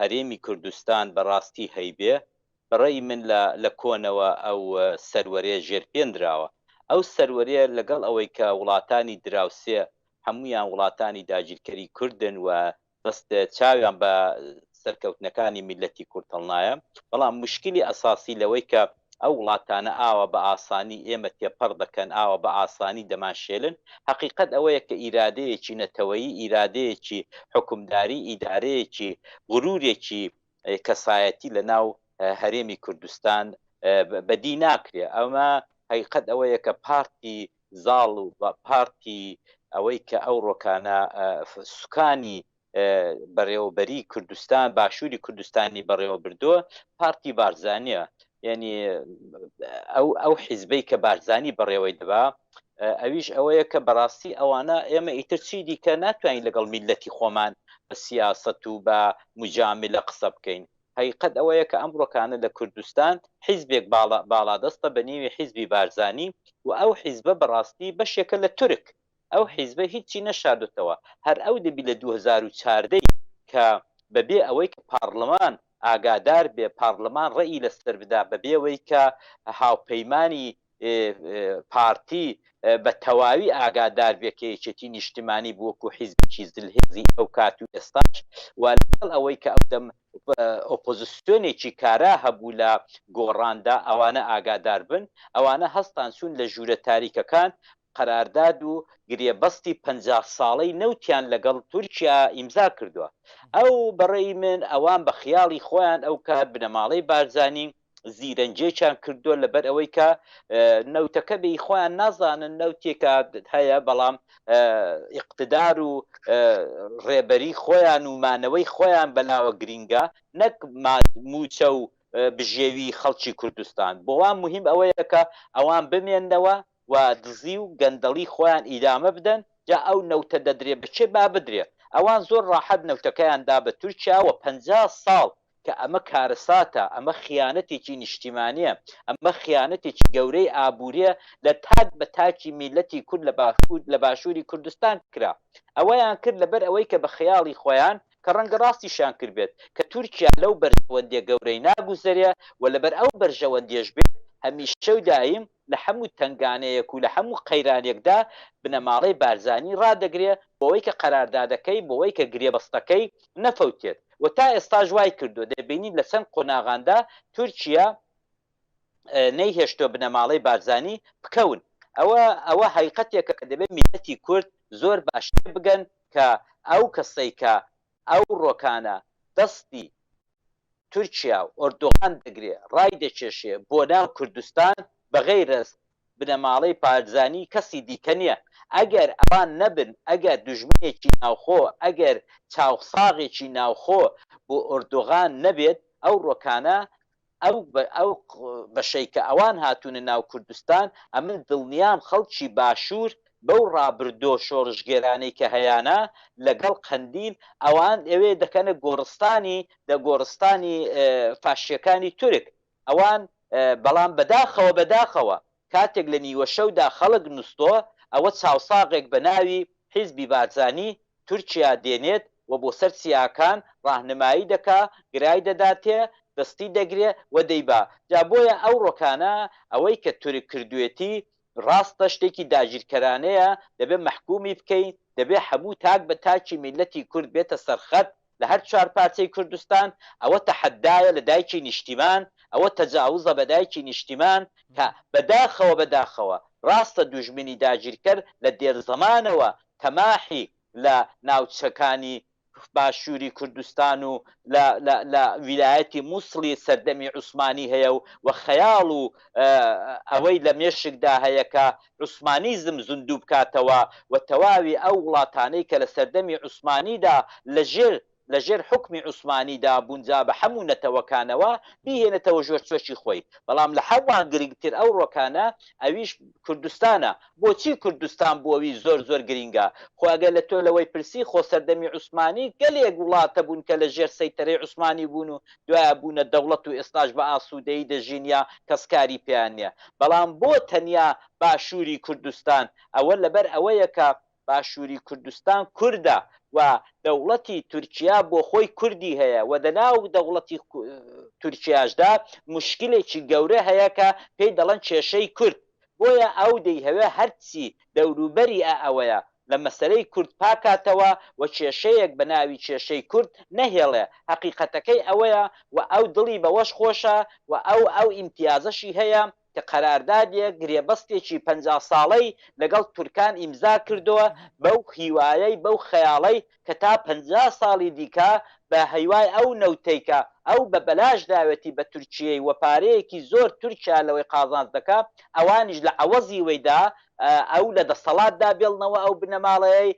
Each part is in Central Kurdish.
هەرێمی کوردستان بەڕاستی هەیبێ بەڕەئی من لە لە کۆنەوە ئەو سەروەرێ ژێر پێ نراوە ئەو سەروەرێ لەگەڵ ئەوەی کە وڵاتانی دراوسێ هەموویان وڵاتانی داگیرکەری کوردن و بەست چاویان بە سەرکەوتنەکانی میللەتی کورد هەڵنایە بەڵام موشکیلی ئەساسی لەوەی کە ئەو وڵاتانە ئاوا بە ئاسانی ئێمە تێپەڕ دەکەن، ئاوا بە ئاسانی دەمانشێلن. هەقیقەت ئەوەیە کە ئیرادەیەکی نەتەوەیی، ئیرادەیەکی حوکمداری، ئیدارەیەکی، غرورێکی کەسایەتی لە ناو هەرێمی کوردستان بەدی ناکرێ. ئەمە هەقیقەت ئەوەیە کە پارتی زاڵ و پارتی ئەوەی کە ئەو ڕۆکانە سوکانی بەڕێوەبەری کوردستان باشووری کوردستانی بەڕێوە بردووە پارتی بارزانە یعنی ئەو ئەو حیزبەی کە بارزانانی بەڕێوەی دەبا ئەویش ئەوەیە کە بەڕاستی ئەوانە ئێمە ئیتر چی دیکە ناتوانین لەگەڵ میلەتی خۆمان بە سیاست و بە مجامی لە قسە بکەین حقیقت ئەوەیە کە ئەمڕۆکانە لە کوردستان حیزبێک باڵا باڵادەستە بە نێوی حیزبی بارزانانی و ئەو حیزبە بەڕاستی بەشێکە لە تورک ئەو حیزبە هیچی نەشاردۆتەوە، هەر ئەو دەبی لە دوو هەزار و چواردە ی کە بە بێ ئەوەی کە پارڵمان ئاگادار بێ، پارڵمان ڕێ ی لە سەر بدا، بە بێ وەی کە هاوپەیمانی پارتی بە تەواوی ئاگادار بێ کە یەکێتی نیشتمانی بووە کو حیزبێکی زل هێزی ئەو کات و ئێستاش و لە گەڵ ئەوەی کە ئەو دەم ئۆپۆزسیۆنێکی کارا هەبوو لە گۆڕان دا، ئەوانە ئاگادار بن، ئەوانە هەستان چوون لە ژوورە تاریکەکان قەرارداد و گرێبەستی پەنجا ساڵەی نەوتیان لەگەڵ تورکیا ئیمزا کردووە ئەو بەڕێی من ئەوان بە خیاڵی خۆیان ئەو کات بنەماڵەی بارزانی زیرەنجێکیان کردووە لەبەر ئەوەی کە نەوتەکە بێی خۆیان نازانن نەوتێکە هەیە بەڵام ئیقتدار و ڕێبەری خۆیان و مانەوەی خۆیان بەلاوە گرینگە نەک موچە و بژێوی خەڵکی کوردستان بۆوان مهم ئەوەیە کە ئەوان بمێنەوە و دزی و گەندەڵی خۆیان ئیدامە بدەن جا ئەو نەوتە دەدرێ بە کێ با بدرێ ئەوان زۆر ڕاحەت نەوتەکەیان دا بە تورکیا و پەنجا ساڵ کە ئەمە کارەساتە ئەمە خیانەتێکی نیشتیمانیە ئەمە خیانەتێکی گەورەی ئابوریە لە تاک بە تاکی میلەتی کورد لە باکور لە باشوری کوردستان کرا ئەوەیان کرد لەبەر ئەوەی کە بە خەیاڵی خۆیان کە ڕەنگە ڕاستیشیان کردبێت کە تورکیا لەو بەرژەوەندیە گەورەی ناگوزەرێ و لەبەر ئەو بەرژەوەندیەش بێت هەمیشە و دایم لە هەموو تەنگانەیەک و لە هەموو قەیرانێکدا بنەماڵەی بارزانی ڕادەگرێ بەوەی کە قەراردادەکەی بەوەی کە گرێبەستەکەی نەفەوتێت و تا ئێستاش وایکردووە دەبینین لە چەند قۆناغاندا تورکیا نەیهێشتووە بنەماڵەی بارزانی بکەون ئەوە ئەوە هەیقەتێکە کە دەبێت میلەتی کورد زۆر باش تێبگەن کە ئەو کەسەی کە ئەو رۆکانە دەستی تورکیا و ئۆردوغان دەگرێ رایدەکێشێ بۆ ناو کوردستان بەغەیرەز بنەماڵەی بارزانی کەسی دیکە نیە ئەگەر ئەوان نەبن ئەگەر دوژمنێکی ناوخۆ ئەگەر چاوساغێکی ناوخۆ بۆ ئۆردوغان نەبێت ئەو رۆکانە ئەو ئەو بەشەی کە ئەوان هاتوونە ناو کوردستان، ئەمن دڵنیام خەڵکی باشوور بەو ڕابردۆ شۆڕشگێرانەی کە هەیانە لە گەڵ قەندیل، ئەوان ئەوێ دەکەنە گۆڕستانی دە گۆڕستانی فاشییەکانی تورک، ئەوان بەڵام بەداخەوە بەداخەوە کاتێک لە نیوەشەودا خەڵک نوستۆ، ئەوە چاوساغێک بە ناوی، حیزبی بارزانی، تورکیا دێنێت و بۆ سەر چیاکان ڕاهنمایی دەکا، گرای دەداتێ، دەستی دەگرێ و دەیبا. جا بۆیە ئەو ڕۆکانە، ئەوەی کە تورک کردوێتی، ڕاستە شتێکی داگیرکەرانەیە، دەبێ مەحکومی بکەین، دەبێ حەموو تاک بە تاکی میللەتی کورد بێتە سەر خەت، لە هەر چوار پارچەی کوردستان، ئەوە تەحەدایە لە دایکی نیشتیمان، ئەوە تەجاوزە بە دایکی نیشتیمان، کە بە داخەوە بە داخەوە ڕاستە دوژمنی داگیرکەر لە دێرزەمانەوە تەماحی لە ناوچەکانی باشووری کوردستان و لە لە لە ویلایەتی موسڵی سەردەمی عوسمانی هەیە و خەیاڵ و ئەوەی لە مێشکدا هەیە کە عوسمانیزم زیندوو بکاتەوە و تەواوی ئەو وڵاتانەی کە لە سەردەمی عوسمانیدا لە ژێر لە ژێر حوکمی عوسمانیدا بوون جا بە حەموو نەتەوەکانەوە بیهێنێتەوە ژێر چۆکی خۆی بەڵام لە حەمووان گرینگتر ئەو ڕۆکانە ئەویش کوردستانە بۆچی کوردستان بۆوی زۆر زۆر گرینگە خۆ ئەگەر لە تۆ لەوەی پرسی خۆ سەردەمی عوسمانی گەلێک وڵاتە بوون کە لە ژێر سەیتەرەی عوسمانی بوون و دوایە بوونە دەوڵەت و ئێستاش بە ئاسوودەیی دەژین یا کەس کاری پێیان نییە، بەڵام بۆ تەنیا باشووری کوردستان؟ ئەوە لەبەر ئەوەیە کە باشووری کوردستان کوردە و دەوڵەتی تورکیا بۆ خۆی کوردی هەیە و دەناو دەوڵەتی تورکیاشدا موشکیلێکی گەورە هەیە کە پێی دەڵێن کێشەی کورد. بۆیە ئەو دەیهەوێ هەرچی دەوروبەری ئە ئەوەیە لە مەسەلەی کورد پاکاتەوە و کێشەیەک بە ناوی کێشەی کورد نەهێڵێ، هەقیقەتەکەی ئەوەیە و ئەو دڵی بەوەش خۆشە و ئەو ئەو ئیمتیازەشی هەیە کە قەراردادێک گرێبەستێکی پەنجا ساڵەی لەگەڵ تورکان ئیمزا کردوە بەو هیوایەی بەو خەیاڵەی کە تا پەنجا ساڵی دیکە بە هیوای ئەو نەوتەی کە ئەو بە بەلاش داوێتی بە تورکییەی و پارەیەکی زۆر تورکیا لەوەی قازانج دەکا ئەوانیش لە عەوەزی وەی دا ئەو لە دەسەڵات دا بێڵنەوە ئەو بنەماڵەیەی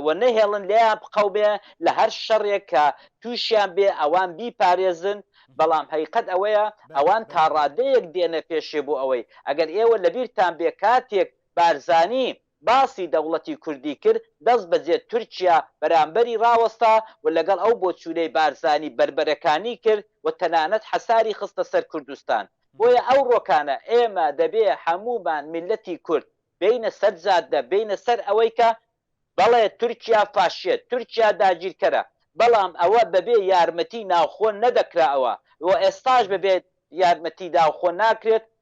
و نەهێڵن لێیان بقەومێ لە هەر شەڕێک کە تووشیان بێ ئەوان بیپارێزن بەڵام هەیقەت ئەوەیە ئەوان تا ڕادەیەک دێنە پێشێ بۆ ئەوەی ئەگەر ئێوە لە بیرتان بێ کاتێک بارزانی باسی دەوڵەتی کوردی کرد، دەست بەجێ تورکیا بەرامبەری ڕاوەستا و لەگەڵ ئەو بۆچوونەی بارزانی بەربەرەکانی کرد و تەنانەت حەساری خستە سەر کوردستان. بۆیە ئەو ڕۆکانە ئێمە دەبێ هەموومان میللەتی کورد بێینە سەر جادە، بێینە سەر ئەوەی کە، بەڵێ تورکیا فاشییە، تورکیا داگیرکەرە، بەڵام ئەوە بەبێ یارمەتی ناوخۆ نەدەکرا و ئێستاش بەبێ یارمەتی ناوخۆ ناکرێت،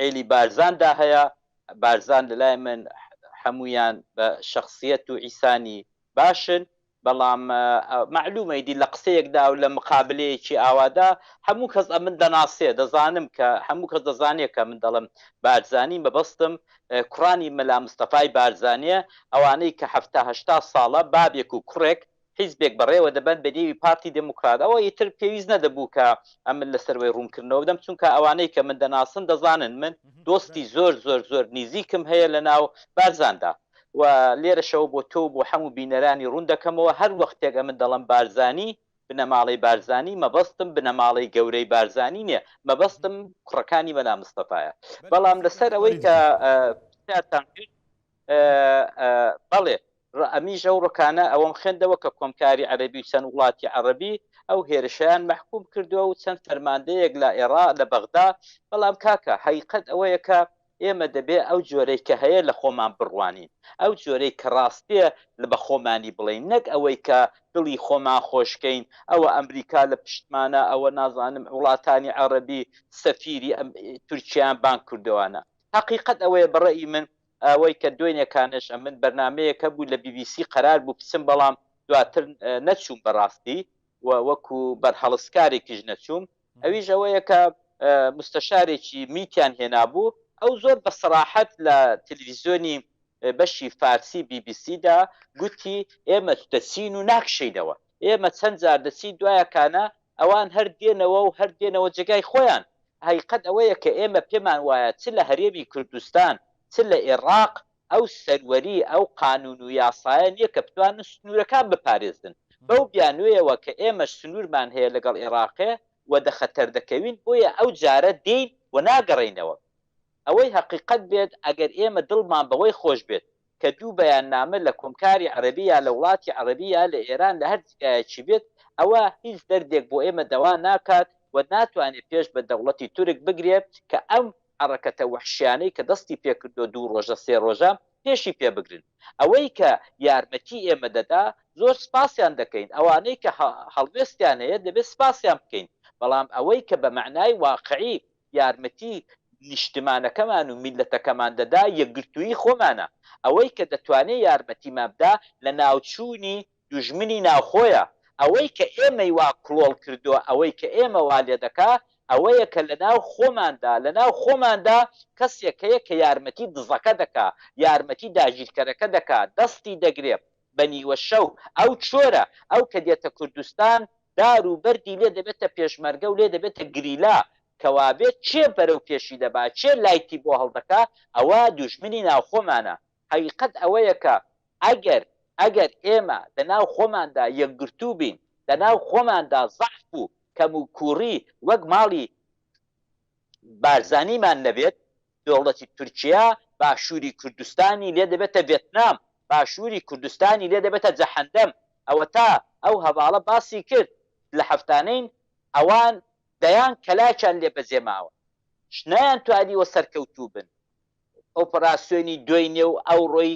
عێلی بارزان دا هەیە بارزان لەلای من حەموویان بە شخصیت و ئیسانی باشن بەڵام معلومە ئیدی لە قسەیەکدا و لە مقابلەیەکی ئاوادا هەموو کەس ئەمن دەناسێ دەزانم کە هەموو کەس دەزانێت کە من دەڵم بارزانی مەبەستم کوڕانی مەلا مستەفای بارزانە ئەوانەی کە هەهشتا ساڵە بابێک و کوڕێک حیزبێک بەڕێوە دەبەن بە نێوی پارتی دێموکڕات، ئەوە ئیتر پێویست نەدەبوو کە ئەمن لە سەروەی ڕوونکردنەوە بدەم، چونکە ئەوانەی کە من دەناسن دەزانن من دۆستی زۆر زۆر زۆر نیزیکم هەیە لە ناو بارزاندا و لێرەشەوە بۆ تۆ و بۆ حەموو بینەرانی ڕوون دەکەمەوە هەر وەختێک ئەمن دەڵێم بارزانی، بنەماڵەی بارزانی، مەبەستم بنەماڵەی گەورەی بارزانی نیە، مەبەستم کوڕەکانی مەلا مستەفایە. بەڵام لە سەر ئەوەی کە پرسیارتان کرد، بەڵێ ئەمیش ئەو ڕکانە ئەوەم خوێندەوە کە کۆمکاری عەربی و چەند وڵاتی عەڕبی ئەو هێرشیان مححکوم کردووە و چەند فەرماندەیەک لە ئێرا لە بەغدا بەڵام کاکە حیقەت ئەوەیە کە ئێمە دەبێ ئەو جۆرەی کە هەیە لە خۆمان بڕوانین ئەو جۆرەی کە ڕاستیە لە بە خۆمانی بڵین نەک ئەوەی کە دڵی خۆمان خۆشکەین ئەوە ئەمریکا لە پشتمانە ئەوە نازانم وڵاتانی عەڕبی سەفیری ئەم تورکیان بان کردوانە حقیقت ئەوەیە بەڕێی من ئەوەی کە دوێنێ کانش ئەمن بەرنامەیەک هەبوو لە بی بی سی قەرار بوو بچم بەڵام دواتر نەچووم بەڕاستی و وەکو بەرهەڵستکارێکیش نەچووم ئەویش ئەوەیە کە مستەشارێکی میتیان هێنابوو ئەو زۆر بە سەراحەت لە تلویزیۆنی بەشی فارسی بی بی سی دا گوتی ئێمە دەچین و ناکشێینەوە ئێمە چەند جار دەچین دوایەکانە ئەوان هەر دێنەوە و هەر دێنەوە جێگای خۆیان. هەقیقەت ئەوەیە کە ئێمە پێمان وایە چ لە هەرێمی کوردستان چ لە ئێڕاق ئەو سەروەری، ئەو قانوون و یاسایە نییە کە بتوانن سنوورەکان بپارێزن. بەو بیانوویەوە کە ئێمەش سنوورمان هەیە لەگەڵ ئێڕاقێ و دە خەتەر دەکەوین بۆیە ئەو جارە دێین و ناگەڕێینەوە. ئەوەی هەقیقەت بێت ئەگەر ئێمە دڵمان بەوەی خۆش بێت کە دوو بەیاننامە لە کۆمکاری عەرەبی یا لە وڵاتی عەرەبی یا لە ئێران لە هەر جیگایەکی بێت، ئەوە هیچ دەردێک بۆ ئێمە دەوا ناکات و ناتوانێ پێش بە دەوڵەتی تورک بگرێ کە ئەم حەڕەکەتە وەحشیانەی کە دەستی پێ کردوە دوو ڕۆژە سێ ڕۆژە پێشی پێ بگرن. ئەوەی کە یارمەتی ئێمە دەدا زۆر سپاسیان دەکەین، ئەوانەی کە هەڵوێستیان هەیە دەبێ سپاسیان بکەین، بەڵام ئەوەی کە بە مەعنای واقعی یارمەتی نیشتمانەکەمان و میللەتەکەمان دەدا یەکگرتوویی خۆمانە، ئەوەی کە دەتوانێ یارمەتیمان بدا لەناوچوونی دوژمنی ناوخۆیە، ئەوەی کە ئێمەی وا کڵۆڵ کردووە ئەوەی کە ئێمە وا لێ دەکا ئەوەیە کە لەناو خۆماندا لەناو خۆماندا کەسێک هەیە کە یارمەتی دزەکە دەکا یارمەتی داگیرکەرەکە دەکا دەستی دەگرێ بە نیوە شەو ئەو چۆرە ئەو کە دێتە کوردستان دار و بەردی لێ دەبێتە پێشمەرگە و لێ دەبێتە گریلا، کەوابێت کێ بەرەو پێشی دەبا، کێ لایتی بۆ هەڵدەکا، ئەوە دوژمنی ناوخۆمانە. حەقیقەت ئەوەیە کە ئەگەر ئەگەر ئێمە لەناو خۆماندا یەکگرتوو بین، لەناو خۆماندا زەعف و کەموکووڕی وەک ماڵی بارزانیمان نەبێت، دەوڵەتی تورکیا باشووری کوردستانی لێ دەبێتە ڤێتنام، باشووری کوردستانی لێ دەبێتە جەحەندەم. ئەوەتا ئەو هەڤاڵە باسی کرد، لە هەفتانەین ئەوان دەیان کەلاکیان لێ بەجێ ماوە، نەیانتوانیوە سەرکەوتوو بن. ئۆپراسیۆنی دوێنێ و ئەوڕۆی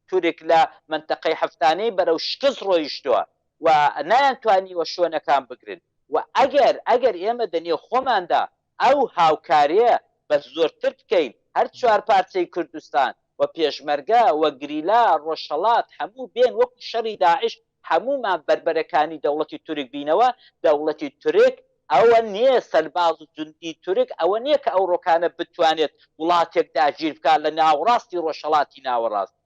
تورک لە مەنتەقەی هەفتانەی بەرەو شکست ڕۆیشتووە و نەیانتوانیوە شوێنەکان بگرن و ئەگەر ئەگەر ئێمە دە نێو خۆماندا ئەو هاوکاریە بە زۆرتر بکەین هەر چوار پارچەی کوردستان و پێشمەرگە و گریلا ڕۆژهەڵات هەموو بێن وەکو شەڕی داعش هەموومان بەربەرەکانی دەوڵەتی تورک بینەوە دەوڵەتی تورک ئەوە نیە سەرباز و جوندی تورک ئەوە نیە کە ئەوڕۆکانە بتوانێت وڵاتێک داگیر بکات لە ناوەڕاستی ڕۆژهەڵاتی ناوەڕاست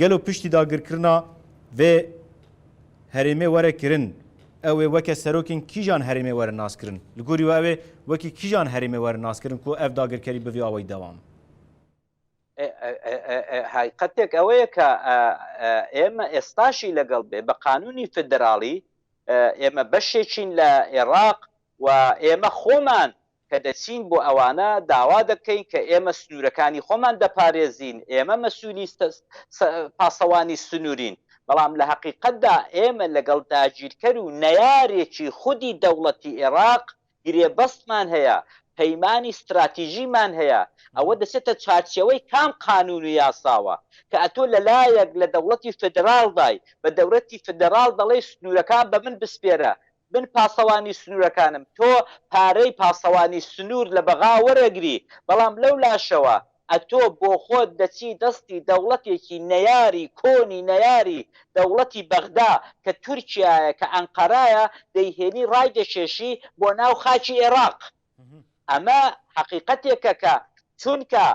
گەلۆ پشتی داگرکرنا ڤێ هەرێمێ وەرە کرن، ئەوێ وەکێ سەرۆکێن کیژان هەرێمێ وەرە ناس کرن؟ لە گۆری وە ئەوێ وەکی کیژان هەرێمێ وەرە ناس کرن ک ئەڤ داگرکەری بڤی ئاوەی دەوام؟ هایقەتێک ئەوەیە ک ئێمە ئێستاشی لەگەڵ بێ بە قانوونی فدراڵی ئێمە بەشێکین لە ئێڕاق و ئێمە خۆمان کە دەچین بۆ ئەوانە داوا دەکەین کە ئێمە سنوورەکانی خۆمان دەپارێزین، ئێمە مەسوولی پاسەوانی سنوورین، بەڵام لە هەقیقەتدا ئێمە لەگەڵ داگیرکەر و نەیارێکی خودی دەوڵەتی ئێراق گرێبەستمان هەیە، پەیمانی ستراتیژیمان هەیە، ئەوە دەچێتە چارچێوەی کام قانوون و یاساوە کە ئەتۆ لە لایەک لە دەوڵەتی فیدراڵدای بە دەولەتی فیدراڵ دەڵێی سنوورەکان بە من بسپێرە، من پاسەوانی سنوورەکانم، تۆ پارەی پاسەوانی سنوور لە بەغا وەرەگری، بەڵام لەو لاشەوە ئەتۆ بۆخۆت دەچی دەستی دەوڵەتێکی نەیاری کۆنی نەیاری دەوڵەتی بەغدا کە تورکیایە کە ئەنقەرایە دەیهێنی ڕایدەکێشی بۆ ناو خاکی ئێڕاق. ئەمە حەقیقەتێکە کە چونکە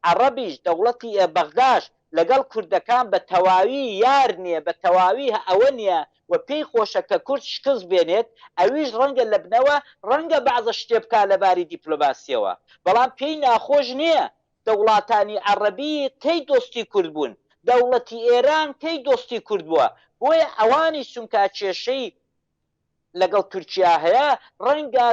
عەڕەبیش دەوڵەتی بەغداش لەگەڵ کوردەکان بە تەواوی یار نیە بە تەواوی ئەوە نیە و پێی خۆشە کە کورد شکست بێنێت ئەویش ڕەنگە لە بنەوە ڕەنگە بەعزە شتێ بکا لە باری دیپلۆماسیەوە بەڵام پێی ناخۆش نیە دەوڵاتانی عەڕەبی کەی دۆستی کورد بوون دەوڵەتی ئێران کەی دۆستی کورد بوە بۆیە ئەوانیش چونکا کێشەی لەگەڵ تورکیا هەیە، ڕەنگە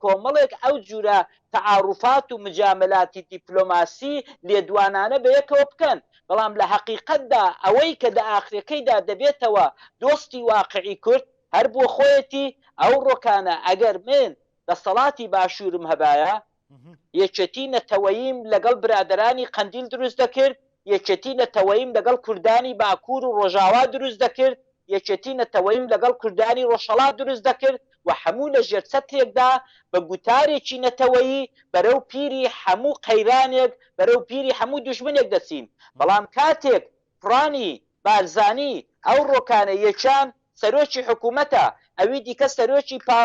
کۆمەڵێک ئەو جورە تەعاروفات و مجاملاتی دیپلۆماسی لێدوانانە بەیەکەوە بکەن، بەڵام لە هەقیقەتدا ئەوەی کە دە ئاخرەکەیدا دەبێتەوە دۆستی واقعی کورد هەر بۆخۆیەتی، ئەو ڕۆکانە ئەگەر من دەسەڵاتی باشورم هەبایە یەکێتی نەتەوەییم لەگەڵ برادەرانی قەندیل دروست دەکرد، یەکێتی نەتەوەییم لەگەڵ کوردانی باکوور و ڕۆژاوا دروست دەکرد، یەکێتی نەتەوەییم لەگەڵ کوردانی ڕۆژهەڵات دروست دەکرد و هەموو لە ژێر چەترێکدا بە گوتارێکی نەتەوەیی بەرەو پیری هەموو قەیرانێک، بەرەو پیری هەموو دوژمنێک دەچین. بەڵام کاتێک کوڕانی. بارزانی ئەو ڕۆکانە یەکیان سەرۆکی حکومەتە ئەوی دیکە سەرۆکی پا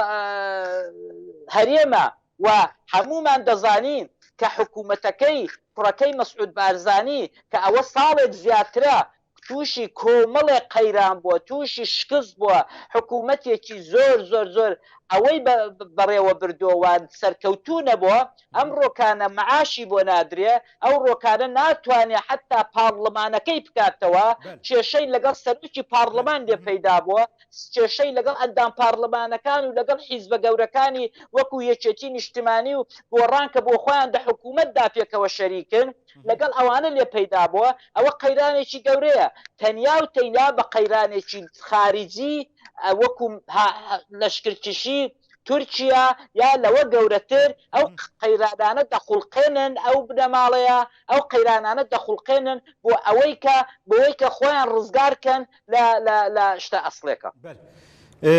هەرێمە و هەموومان دەزانین کە حکومەتەکەی کوڕەکەی مەسعود بارزانی کە ئەوە ساڵێک زیاترە تووشی کۆمەڵێک قەیران بووە تووشی شکست بووە حکومەتێکی زۆر زۆر زۆر ئەوەی بە بەڕێوە بردووە و سەرکەوتوو نەبووە ئەم ڕۆکانە معاشی بۆ نادرێ، ئەو ڕۆکانە ناتوانێ حەتا پاڕڵمانەکەی بکاتەوە، کێشەی لەگەڵ سەرۆکی پاڕڵمان لێ پەیدا بووە، کێشەی لەگەڵ ئەندام پاڕڵمانەکان و لەگەڵ حیزبە گەورەکانی وەکوو یەکێتی نیشتمانی و گۆڕان کە بۆ خۆیان دە حکوومەتدا پێکەوە شەریکن، لەگەڵ ئەوانە لێ پەیدا بووە، ئەوە قەیرانێکی گەورەیە، تەنیا و تەینا بە قەیرانێکی خاریجی وەکوو لەشکرکشی تورکیا یا لەوە گەورەتر ئەو قەیرانانە دەخوڵقێنن ئەو بنەماڵەیە ئەو قەیرانانە دەخوڵقێنن بۆ ئەوەی کە بۆیکە خۆیان ڕزگار کەن لە شتە ئەسڵێکە.